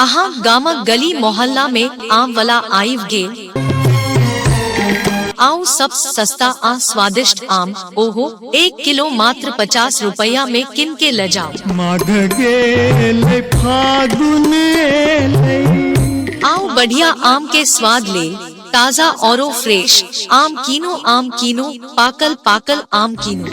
अहाँ गामक गली मोहल्ला में आम वाला आइव गेल आऊ सब सस्ता आ स्वादिष्ट आम ओहो एक किलो मात्र पचास रुपया में किन के ले जाओ माघ गेल फागुन एलै आऊ बढ़िया आम के स्वाद ले ताजा और फ्रेश आम कीनो आम कीनो पाकल पाकल आम कीनो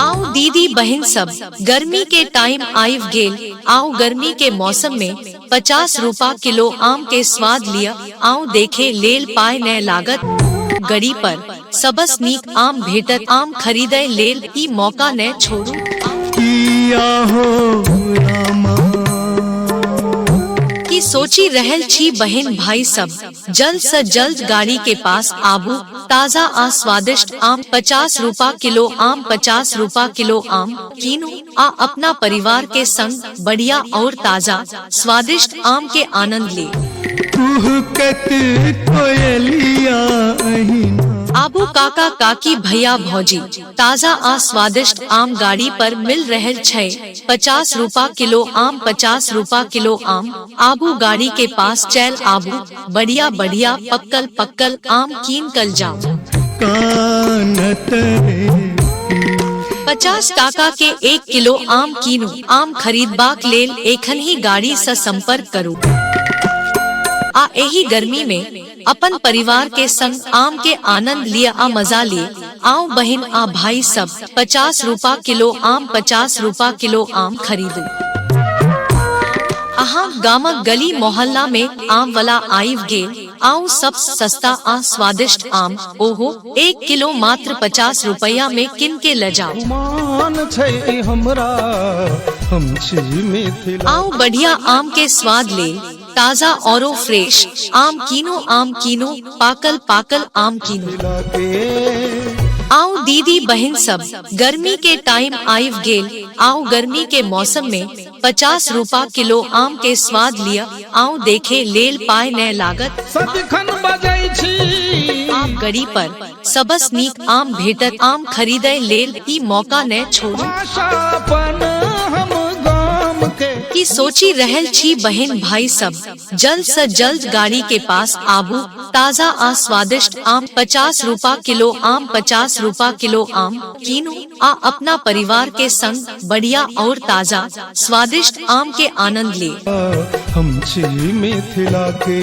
आओ दीदी बहन सब गर्मी के टाइम आइव गेल आओ गर्मी के मौसम में पचास रूपा किलो आम के स्वाद लिया आओ देखे लेल पाए न लागत गड़ी पर सबस नीक आम भेटत आम खरीदय लेल ई मौका ने छोड़ू किया हो रामा की सोची रहल छी बहन भाई सब जल्द से जल्द गाड़ी के पास आबू ताजा आ स्वादिष्ट आम पचास रूपा किलो आम पचास रूपा किलो आम कीनू आ अपना परिवार के संग बढ़िया और ताजा स्वादिष्ट आम के आनंद ले कुहकत कोयलिया अहिना आबू काका काकी भैया भौजी ताजा आ स्वादिष्ट आम गाड़ी पर मिल रहल छै पचास रूपा किलो आम पचास रूपा किलो आम आबू गाड़ी के पास चैल आबू बढ़िया बढ़िया पक्कल पक्कल आम कीन कल जाओ कानत रे पचास टाका के एक किलो आम कीनो आम खरीदबाक लेल एखन ही गाड़ी से संपर्क करू आ एही गर्मी में अपन परिवार के संग आम के आनंद लिया आ मजा लिए आउ बहिन आ भाई सब पचास रूपा किलो आम पचास रूपा किलो आम खरीदू अहाँ गामक गली मोहल्ला में आम वाला आइव गेल आउ सब सस्ता आ स्वादिष्ट आम ओहो एक किलो मात्र पचास रुपया में किन के ले जाओ मान छै ई हमरा हम छी मिथिला आउ बढ़िया आम के स्वाद ले ताजा और फ्रेश आम कीनो आम कीनो पाकल पाकल आम कीनो आओ दीदी बहन सब गर्मी के टाइम आइव गेल आओ गर्मी के मौसम में पचास रूपा किलो आम के स्वाद लिया आओ देखे लेल पाए न लागत सदिखन बजै छी आम गड़ी पर सबस नीक आम भेटत आम खरीदय लेल ई मौका ने छोड़ू भाषा अपन हम गाम के की सोची रहल छी बहन भाई सब जल्द से जल्द गाड़ी के पास आबू ताजा आ स्वादिष्ट आम पचास रूपा किलो आम पचास रूपा किलो आम कीनू आ अपना परिवार के संग बढ़िया और ताजा स्वादिष्ट आम के आनंद ले हम छी मिथिला के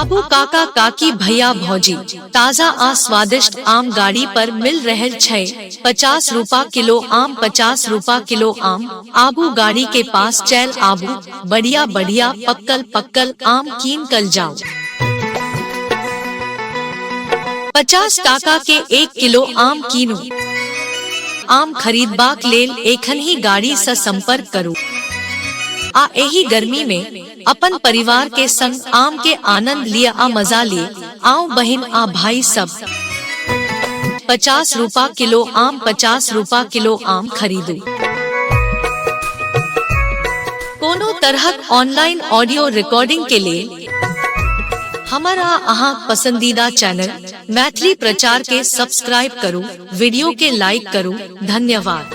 आबू काका काकी भैया भौजी ताजा आ स्वादिष्ट आम गाड़ी पर मिल रहे छै पचास रूपा किलो आम पचास रूपा किलो आम आबू गाड़ी के पास चैल आबू बढ़िया बढ़िया पक्कल पक्कल आम कीन कल जाओ पचास टाका के एक किलो आम कीनो आम खरीदबाक लेल एखन ही गाड़ी से संपर्क करू आ एही गर्मी में अपन परिवार के संग आम के आनंद लिय आ मजा लिय आउ बहिन आ भाई सब पचास रूपा किलो आम पचास रूपा किलो आम खरीदू कोनो तरहक ऑनलाइन ऑडियो रिकॉर्डिंग के लिए हमारा अहाँ पसंदीदा चैनल मैथिली प्रचार के सब्सक्राइब करू वीडियो के लाइक करू धन्यवाद